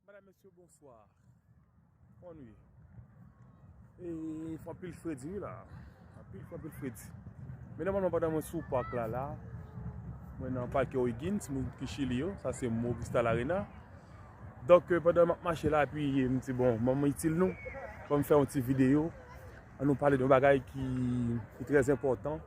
Madame mesye bonswa bon wi fè anpil fredi wi la anpil fè anpil fredi men nòmalman pandan mwen sou pak la la mwen nan pake Oigins moun ki chili yo sa se mou vista la rena donk pandan mwen mache la epi mwen di bon mwen mwen itil nou mwen fè yon ti video an nou pale de yon bagay ki trèz enpòtan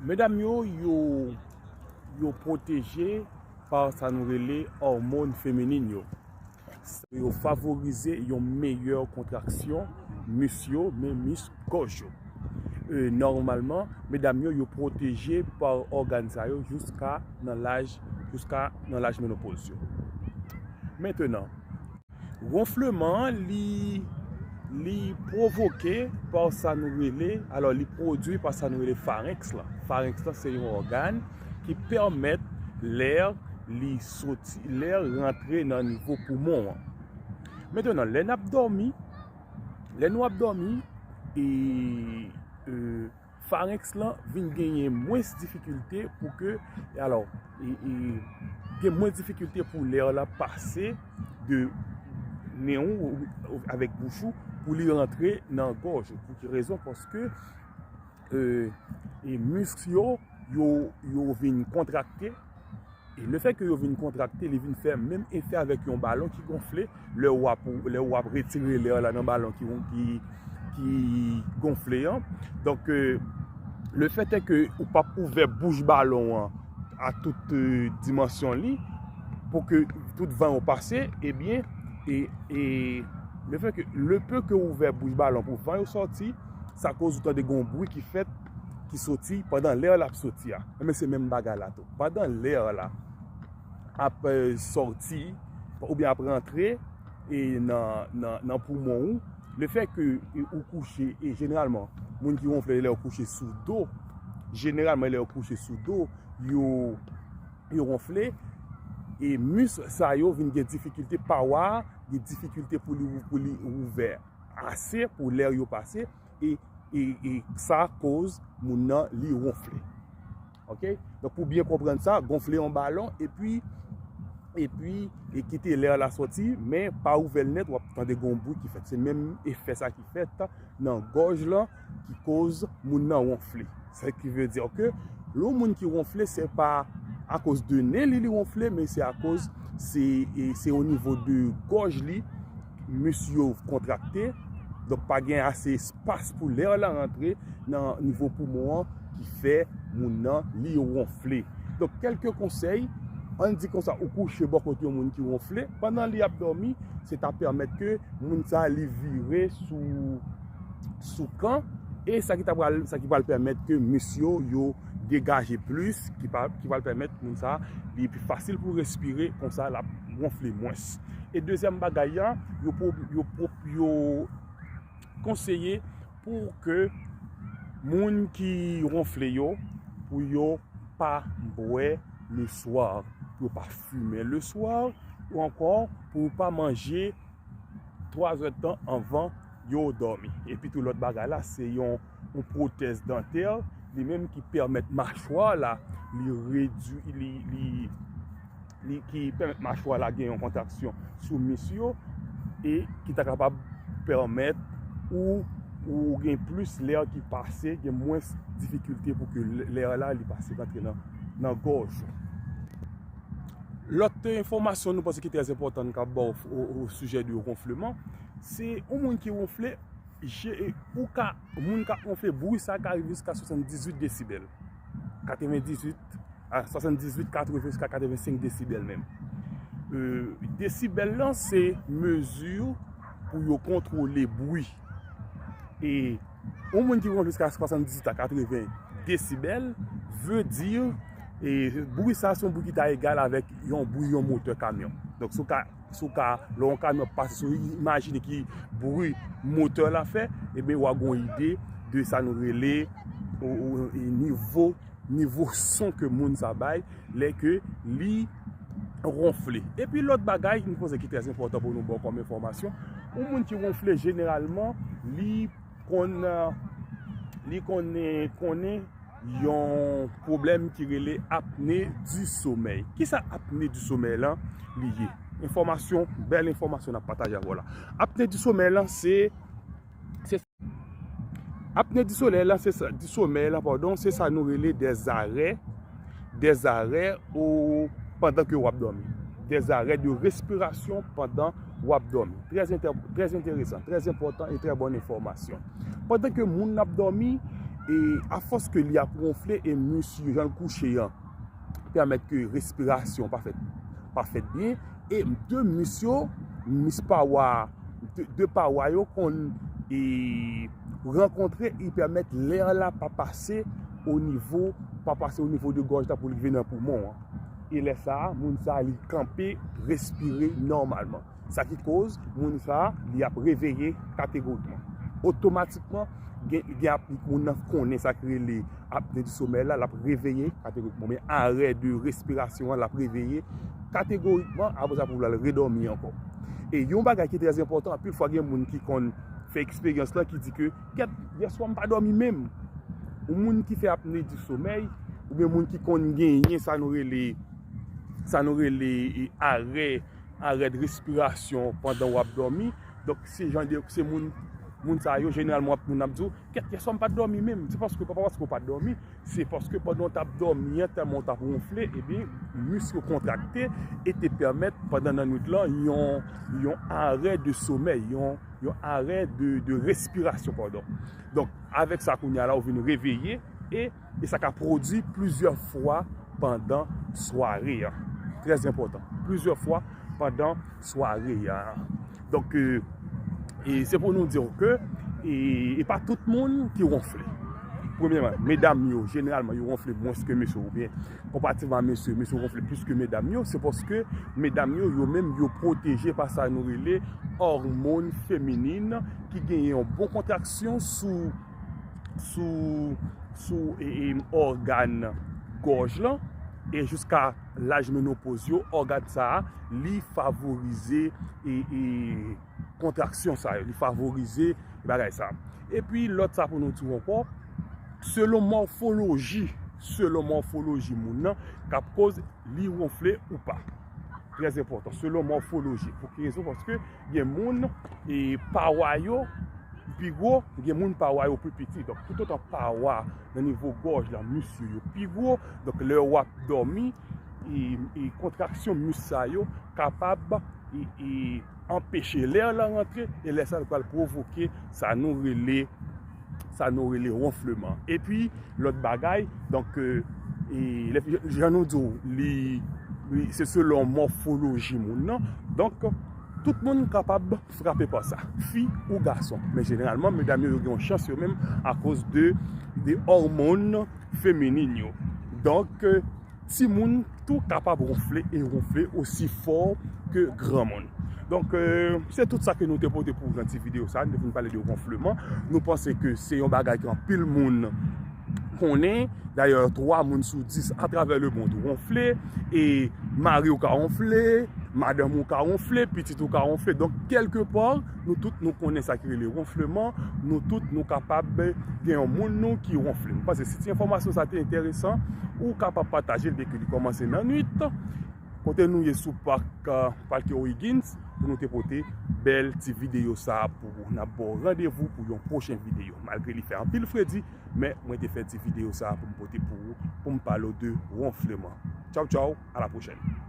Medam yo, yo pwoteje pa sa nou rele òmon feminin yo. Sa yo favorize yon meyè kontraksyon mis yo, men mis gòj yo. Nòmalman, medam yo, yo pwoteje pa ògàn sa yo jouska nan laj menopoz yo. Mentenan. Ronfleman an li li pwovoke pa sa nou rele, alò li pwodui pa sa nou rele farenks lan. Farenks lan se yon ògàn ki pèmèt lè li soti, lè rantre nan nivo poumon an. Metenan, lè n ap dòmi, lè nou ap dòmi, e, e, Pharynx lan vin genyen mwens difikilte pou ke, e alò, e, e, gen mwens difikilte pou lè a la pase de nen ou, ou, avèk bouch ou, pou li rantre nan gòj ou. Pou ki rezon? Paske, e, e, misk yo, yo, yo vin kontrakte. E lefè ke yo vin kontrakte, li vin fè menm efè avèk yon balon ki gonfle, lè ou ap, lè ou ap retire lè la nan balon ki yon ki, ki gonfle an. Donk, le fè tè ke ou pap ouvè bouch balon an a tout dimansyon li, pou ke tout van yo pase, e byen, e, e, le fè ke, le peu ke ou ouvè bouch balon pou van yo sòti, sa koz ou tande gen yon bwi ki fèt. ki soti pandan lè lap soti a enben se menm bagay la tou pandan lè la ap soti oubyen ap rantre e nan poumon ou le fè ke ou kouche e jeneralman moun ki wonfle lè yo kouche sou do jeneralman lè yo kouche sou do yo wonfle e mis sa yo vin gen difikilte pawa gen difikilte pou li ouvè ase pou lè yo pase E sa koz moun nan li ronfle. Ok? Donk pou byen konprann sa, gonfle yon balon e pi e pi e kite lè la soti men pa ouvè l nèt wap tande gon bwi ki fèt. Se menm efè sa ki fèt nan gòj lan ki koz moun nan ronfle. Sa ki vle di ke lè yon moun ki wonfle se pa akoz de nen li li wonfle men se akoz se o nivo de gòj li mis yo kontrakte donk pa gen ase espas pou lè lan rantre nan nivo poumon an ki fè moun nan li wonfle donk kelke konsèy an di konsa ou kouche bò kote yon moun ki wonfle pandan li ap dòmi se ta pèmèt ke moun sa li vire sou sou kan e sa ki ta pral sa ki pral pèmèt ke mis yo yo degaje plis ki pral pèmèt moun sa li pi fasil pou respire konsa l ap gonfle mwens e dezyèm bagay an yo pou yo pou yo konseye pou ke moun ki ronfle yo pou yo pa bwè le swa pou yo pa fimen le swa ou ankò pou yo pa manje 3 zè tan anvan yo dòmi. Epi tou lòt bagay la se yon pwotèz dantè li menm ki pèmèt machwa la li redwi li ki pèmèt machwa la gen yon kontaksyon sou mis yo e ki ta kapab pèmèt ou gen plis lè ki pase gen mwens difikilte pou ke lè la li pase rantre nan gòj ou. Lòt enfòmasyon nou panse ki trè enpòtan nou kab baw o sijè de ronfleman, se yon moun ki ronfle, je e ou ka, moun kap ronfle bri sa ka rive jiska 78 desibèl. 98 a 78, 80 jiska 85 desibèl menm. Desibèl lan se mezi pou yo kontwole bri. Yon moun ki ronfle jiska 78 a 80 desibèl vle di bwi sa se yon bwi ki ta egal avèk yon bwi yon motè kamyon. Donk sou ka, sou ka, lè yon kamyon ap pase sou, imajine ki bwi motè la fè, e ben ou a gon ide de sa nou rele nivo. nivo son ke moun sa bay lè ke li ronfle. Epi lòt bagay, yon konsèy ki trè enpòtan pou nou ban kòm enfòmasyon, yon moun ki ronfle jeneralman li konn li konnen konnen yon pwoblèm ki rele apne di somèy. Kisa apne di somèy lan li ye? Enfòmasyon, bèl enfòmasyon nap pataje avèw la. Apne di somèy lan se se. Apne di solèy la se sa, di somèy la padon, se sa nou rele dèzarè, dèzarè ou pandan ke w ap dòmi. Dèzarè de respirasyon pandan w ap dòmi. Trèz entè, trèz enteresan, trèz enpòtan e trè bòn enfòmasyon. Pandan ke moun ap dòmi, e afòs ke li ap wonfle e misye jan l kouche an. pèmèt ke respirasyon pa fèt, pa fèt byen, e de mis yo, mis pawa, de pawa yo konn e rankontre e pèmèt lè an la pa pase o nivo, pa pase o nivo de gòj la pou li vin nan poumon an. E lè sa a, moun sa li kanpe, respire nòmalman. Sa ki koz moun sa a li ap reveye kategorikman. Otomatikman gen gen ap moun nan konnen sa ki rele apne di somèy la, l ap reveye kategorikman. Men arè de respirasyon an l ap reveye kategorikman apre sa pou l al redòmi ankò. E yon bagay ki trè enpòtan, anpil fwa gen moun ki konn fè eksperyans lan ki di ke kèt yèswa m pa dòmi menm. Yon moun ki fè apne di somèy oubyen moun ki konn genyen sa nou rele sa nou rele arè. Arès respirasyon pandan wap dòmi. Donk se jan de, se moun, moun sa yo jeneralman wap moun ap di w, kèt kè sa m pat dòmi menm. Se paske, pa paske w pat dòmi, se paske pandan w tap dòmi an tèlman w tap wonfle, ebyen misk yo kontrakte e te pèmèt pandan nannuit lan yon, yon arè de somèy, yon, yon arè de, de respirasyon padon. Donk avèk sa kounya la ou vin reveye e. e sa ka pwodui plizyè fwa pandan sware a. Trè enpòtan. Plizyè fwa pandan sware a. Donk, se pou nou di w ke, e pa tout moun ki wonfle. Premyèman, medam yo, jeneralman yo wonfle mwens ke mesye ou byen. Konpativeman mesye, mesye wonfle plis ke medam yo. Se paske medam yo, yo menm yo pwoteje pa sa nou rele òmon feminin ki genyen yon bon kontraksyon sou. sou ògàn gòj lan, e jiska laj menopoz yo, ògàn sa a, li favorize kontraksyon sa yo, li favorize bagay sa. E pi lòt sa pou nou di ankò, selon mòfoloji, selon mòfoloji moun nan, kap koz li wonfle ou pa. Trè enpòtan, selon mòfoloji. Pou ki rezon? Paske gen moun e pawa yo pi gwo, gen moun pawa yo pi piti. Donk, tout otan pawa nan nivo gòj la, mis yo yo pi gwo. Donk, lè w ap dòmi, e kontraksyon mis sa yo kapab e. anpeche lè an lan rantre e lè sa li pral pwovoke sa nou rele sa nou rele wonfleman epi lòt bagay donk jan nou di w li se selon mòfoloji moun nan donk tout moun kapab frape pa sa fi ou gason men jeneralman medam yo yo gen yon chans yo menm akoz de òmon feminin yo donk Timoun tou kapab ronfle e ronfle osi fò ke granmoun. Donk, se tout sa ke nou te pote pou nan ti videyo sa. Nou te vin pale de ronfleman. Nou panse ke se yon bagay ke anpil moun konnen. Dayè, 3 moun sou 10 atravè le mond ronfle. E mari ou ka ronfle, madanm ou ka ronfle, pitit ou ka ronfle. Donk, kelke pò, Nou tout nou konnen sa ki rele wonfleman, nou tout nou kapab gen yon moun nou ki wonfle. Mwen panse si ti enfòmasyon sa te enteresan, ou kapab pataje l dèke li kòmanse nan nwit. Kote nou ye sou pak Palke O'Higgins pou nou te pote bèl ti videyo sa pou ou. N ap ba w randevou pou yon pwochen videyo. Malgre li fè anpil fredi, men mwen te fè ti videyo sa pou m pote pou ou, pou m pale w de wonfleman. Tchaw tchaw, a la pwochèn!